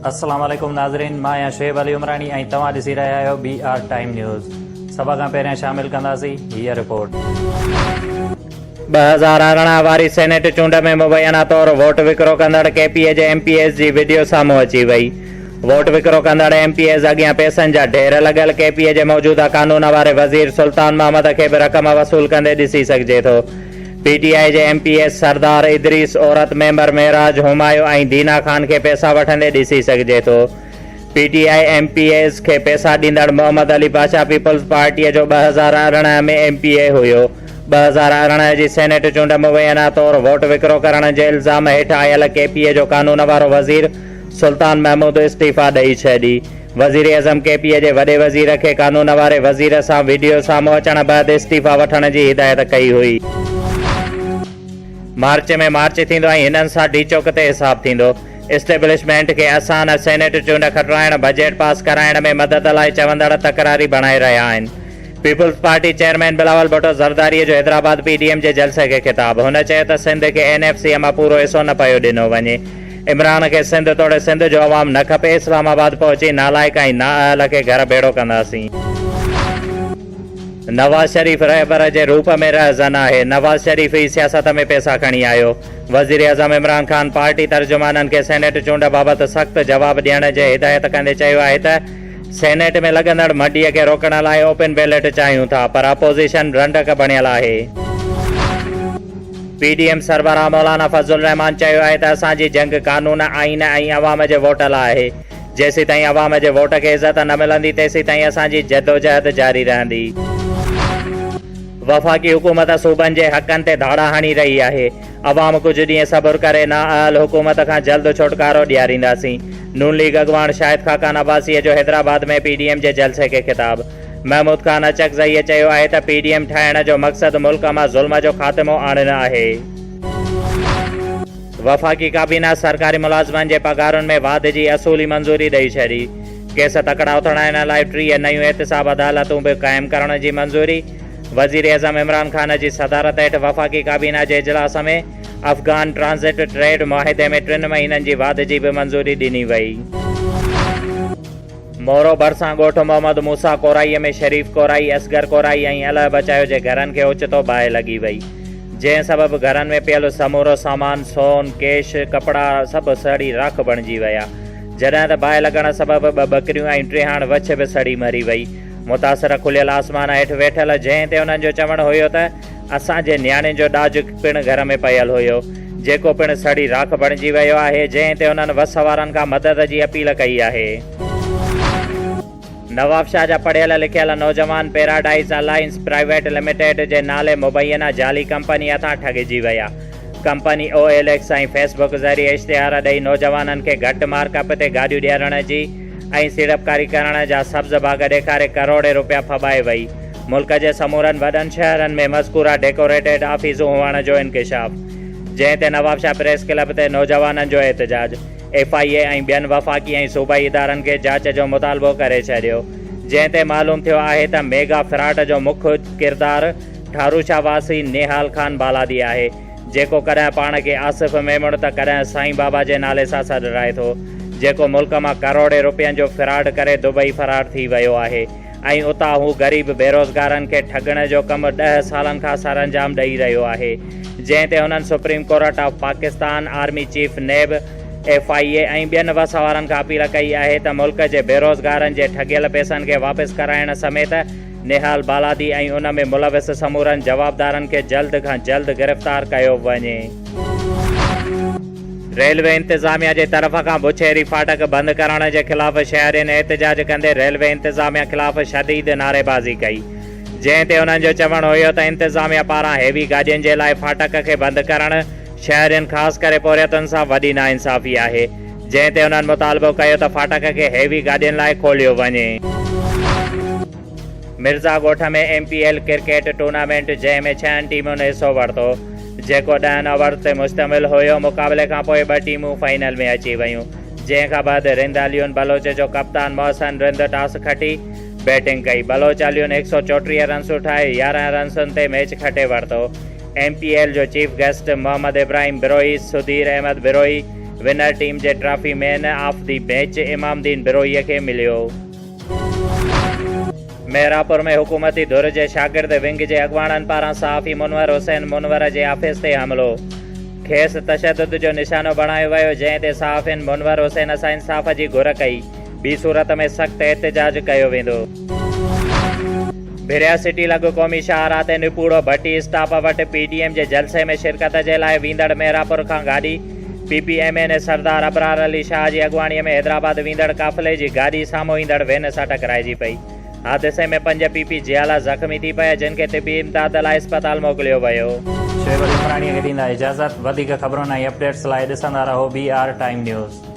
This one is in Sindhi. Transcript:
السلام عليڪم ناظرين مان آهيان شعيب علي عمراڻي ۽ توهان ڏسي رهيا آهيو بي آر ٽائيم نيوز سڀ کان پهريان شامل ڪنداسين هيء رپورٽ ٻه هزار ارڙهن واري سينيٽ چونڊ ۾ مبينا طور ووٽ وڪرو ڪندڙ ڪي پي اي جي ايم پي ايز جي وڊيو سامهون اچي وئي. ووٽ وڪرو ڪندڙ ايم پي ايز اڳيان پيسن جا ڍير لڳل ڪي پي اي جي موجوده قانون واري وزير سلطان محمد کي به رقم وصول ڪندي ڏسي سگهجي ٿو. پي ٽي آء جي ايم پي ايز سردار ادريس، عورت ميمبر معراج همايو ۽ دينا خان کي پيسا وٺندي ڏسي سگهجي ٿو. P T I M P As کي پيسا ڏيندڙ محمد علي پاشا پيپلز پارٽيء جو ٻه هزار ارڙهن ۾ ايم پي اي هيو. ٻه هزار ارڙهن جي سينيٽ چونڊ مبينا طور ووٽ وڪرو ڪرڻ جي الزام هيٺ آيل ڪي پي اي جو قانون وارو وزير سلطان محمود استعيفيٰ ڏئي ڇڏي. وزيراعظم ڪي پي اي جي وڏي وزير کي قانون واري وزير سان وڊيو سامهون اچڻ بعد استعيفيٰ وٺڻ جي هدايت ڪئي هئي. مارچ ۾ مارچ ٿيندو ۽ هنن سان ڊي چوڪ تي حساب ٿيندو. اسٽيبلشمينٽ کي اسان سينيٽ چونڊ کٽرائڻ، بجيٽ پاس ڪرائڻ ۾ مدد لاء چوندڙ تڪراري بڻائي رهيا آهن. پيپلز پارٽي چيئرمين بلاول ڀٽو زرداري جو حيدرآباد پي ڊي ايم جي جلسي کي خطاب، هن چيو ته سنڌ کي اين ايف سي مان پورو حصو نه پيو ڏنو وڃي، عمران کي سنڌ توڙي سنڌ جو عوام نه کپي، اسلام آباد پهچي نالائق ۽ نااهل کي گهر ڀيڙو ڪنداسين. نواز شريف رهبر جي روپ ۾ رهزن آهي، نواز شريف ئي سياست ۾ پيسا کڻي آيو، وزيراعظم عمران خان پارٽي ترجمانن کي سينيٽ چونڊ بابت سخت جواب ڏيڻ جي هدايت ڪندي چيو آهي ته سينيٽ ۾ لڳندڙ مڍيء کي روڪڻ لاء اوپن بيلٽ چاهيون ٿا پر اپوزيشن رنڊڪ بڻيل آهي. پي ڊي ايم سربراهه مولانا فضل الرحمان چيو آهي ته اسان جي جنگ قانون، آئين ۽ عوام جي ووٽ لاء آهي. جيسيتائين عوام جي ووٽ کي عزت نه ملندي تيسيتائين اسان جي جدوجهد جاري رهندي. وفاقي حڪومت صوبن جي حقن تي ڌاڙا هڻي رهي آهي. عوام ڪجهه ڏينهن صبر ڪري نااهل حڪومت کان جلد ڇوٽڪارو ڏيارينداسين، نون ليگ اڳواڻ شاهد خاقان عباسيء جو حيدرآباد ۾ پي ڊي ايم جي جلسي کي خطاب. محمود خان اچڪزئيء چيو آهي ته پي ڊي ايم ٺاهڻ جو مقصد ملڪ مان ظلم جو خاتمو آڻڻ آهي. وفاقي ڪابينا سرڪاري ملازمن جي پگهارن ۾ واڌ جي اصولي منظوري ڏئي ڇڏي، ڪيس تڪڙا اٿڙائڻ لاء ٽيهه نيون احتساب عدالتون به قائم ڪرڻ جي منظوري، وزيراعظم عمران خان جي صدارت هيٺ وفاقي ڪابينا جي اجلاس ۾ افغان ٽرانزٽ ٽريڊ معاهدي ۾ ٽن مهينن جي واڌ جي به منظوري ڏني وئي. مورو ڀرسان ڳوٺ محمد موسيٰ ڪورائي ۾ شريف ڪورائي، اصغر ڪورائي ۽ الهه بچايو جي گهرن کي اوچتو باهه لڳي وئي، جنهن سبب گهرن ۾ پيل سمورو سامان، سون، ڪيش، ڪپڙا سڀ سڙي راک بڻجي ويا، جڏهن ته باهه لڳڻ سبب ٻه ٻڪريون ۽ ٽيهاڻ وڇ به سڙي مري وئي. متاثر کليل آسمان هيٺ ويٺل جنهن تي انهن جو چوڻ هيو ته اسان جي نياڻين جو ڏاج پڻ گهر ۾ پيل هيو جيڪو پڻ سڙي راک بڻجي ويو آهي جنهن تي انهن وس وارن کان مدد جي اپيل ڪئي آهي. نوابشاهه جا پڙهيل لکيل نوجوان پيراڊائيز الائنس پرائيويٽ لميٽيڊ جي نالي مبينا جعلي ڪمپني هٿان ٺڳجي ويا company O L X ۽ Facebook ذريعي اشتهار ڏئي نوجوانن کي گهٽ مارڪ اپ تي گاڏيون ڏيارڻ جي ۽ سيڙپڪاري ڪرڻ جا سبز باغ ڏيکاري ڪروڙين روپيا ڦٻائي وئي. ملڪ جي سمورن وڏن شهرن ۾ مذڪوره ڊيڪوريٽيڊ آفيسون هئڻ جو انڪشاف، جنهن تي نوابشاهه پريس ڪلب تي نوجوانن جو احتجاج، ايف آء اي ۽ ٻين وفاقي ۽ صوبائي ادارن کي جاچ جو مطالبو ڪري ڇڏيو، جنهن تي معلوم ٿيو آهي ته ميگا فراڊ جو مک ڪردار ٺاروشاهه واسي نيهال خان بالادي آهي. جيڪو ڪڏهن پاڻ کي آصف ميمڻ ته ڪڏهن سائين بابا جي نالي سان سڏرائي ٿو، جيڪو ملڪ مان ڪروڙين رپين جو فراڊ ڪري دبئي فرار ٿي ويو آهي ۽ اتان هو غريب بيروزگارن کي ٺڳڻ جو ڪم ڏهه سالن کان سرانجام ڏئي رهيو آهي، جنهن تي هنن supreme court of Pakistan, army chief, NAB, F I A ۽ ٻين وس وارن کان اپيل ڪئي آهي ته ملڪ جي بيروزگارن جي ٺڳيل پيسن کي واپس ڪرائڻ سميت نهال بالادي ۽ ان ۾ ملوث سمورن جوابدارن کي جلد کان جلد گرفتار ڪيو وڃي. ريلوي انتظاميا جي طرف کان بڇيري ڦاٽڪ بند ڪرڻ جي خلاف شهرين احتجاج ڪندي ريلوي انتظاميا خلاف شديد نعريبازي ڪئي جنهن تي انهن جو چوڻ هيو ته انتظاميا پاران هيوي گاڏين جي لاء ڦاٽڪ کي بند ڪرڻ شهرين خاص ڪري پورهيتن سان وڏي ناانصافي آهي. جنهن تي انهن مطالبو ڪيو ته ڦاٽڪ کي هيوي گاڏين لاء کوليو وڃي. مرزا ڳوٺ ۾ M P L cricket tournament جنهن ۾ ڇهن ٽيمن حصو ورتو جيڪو ڏهن اوورز تي مشتمل هيو مقابلي کان پوء ٻه ٽيمون فائنل ۾ اچي ويون جنهن کان بعد رند عليون بلوچ جو ڪپتان محسن رند ٽاس کٽي بيٽنگ ڪئي بلوچ عليون هڪ سؤ چوٽيهه رنسون ٺاهي يارهن رنسن تي ميچ کٽي ورتو ايم پي ايل جو chief guest Muhammad Ibrahim Brohi Sudheer Ahmed Brohi winner team جي trophy man of the match Imam Din بروهيء کي مليو. ميرپور ۾ حڪومتي ڌر جي شاگرد ونگ جي اڳواڻن پاران صحافي منور حسين منور جي آفيس تي حملو، کيس تشدد جو نشانو بڻايو ويو جنهن تي صحافين منور حسين سان انصاف جي گهر ڪئي. ٻي صورت ۾ سخت احتجاج ڪيو ويندو. ڀريا سٽي لڳ قومي شاهراهه تي نپوڙو ڀٽي اسٽاپ وٽ پي ڊي ايم جي جلسي ۾ شرڪت جي لاء ويندڙ مهراپور کان گاڏي، P P M N A Sardar Abrar Ali Shah جي اڳواڻي ۾ حيدرآباد ويندڙ قافلي جي گاڏي سامهون ايندڙ وين سان ٽڪرائجي پئي. حادثي ۾ پنج پي پي جيالا زخمي ٿي پيا جن کي طبي امداد لاء اسپتال موڪليو ويو. شعيب علي عمراڻيء کي ڏيندا اجازت. وڌيڪ خبرن ۽ اپڊيٽس لاء ڏسندا رهو بي آر ٽائيم نيوز.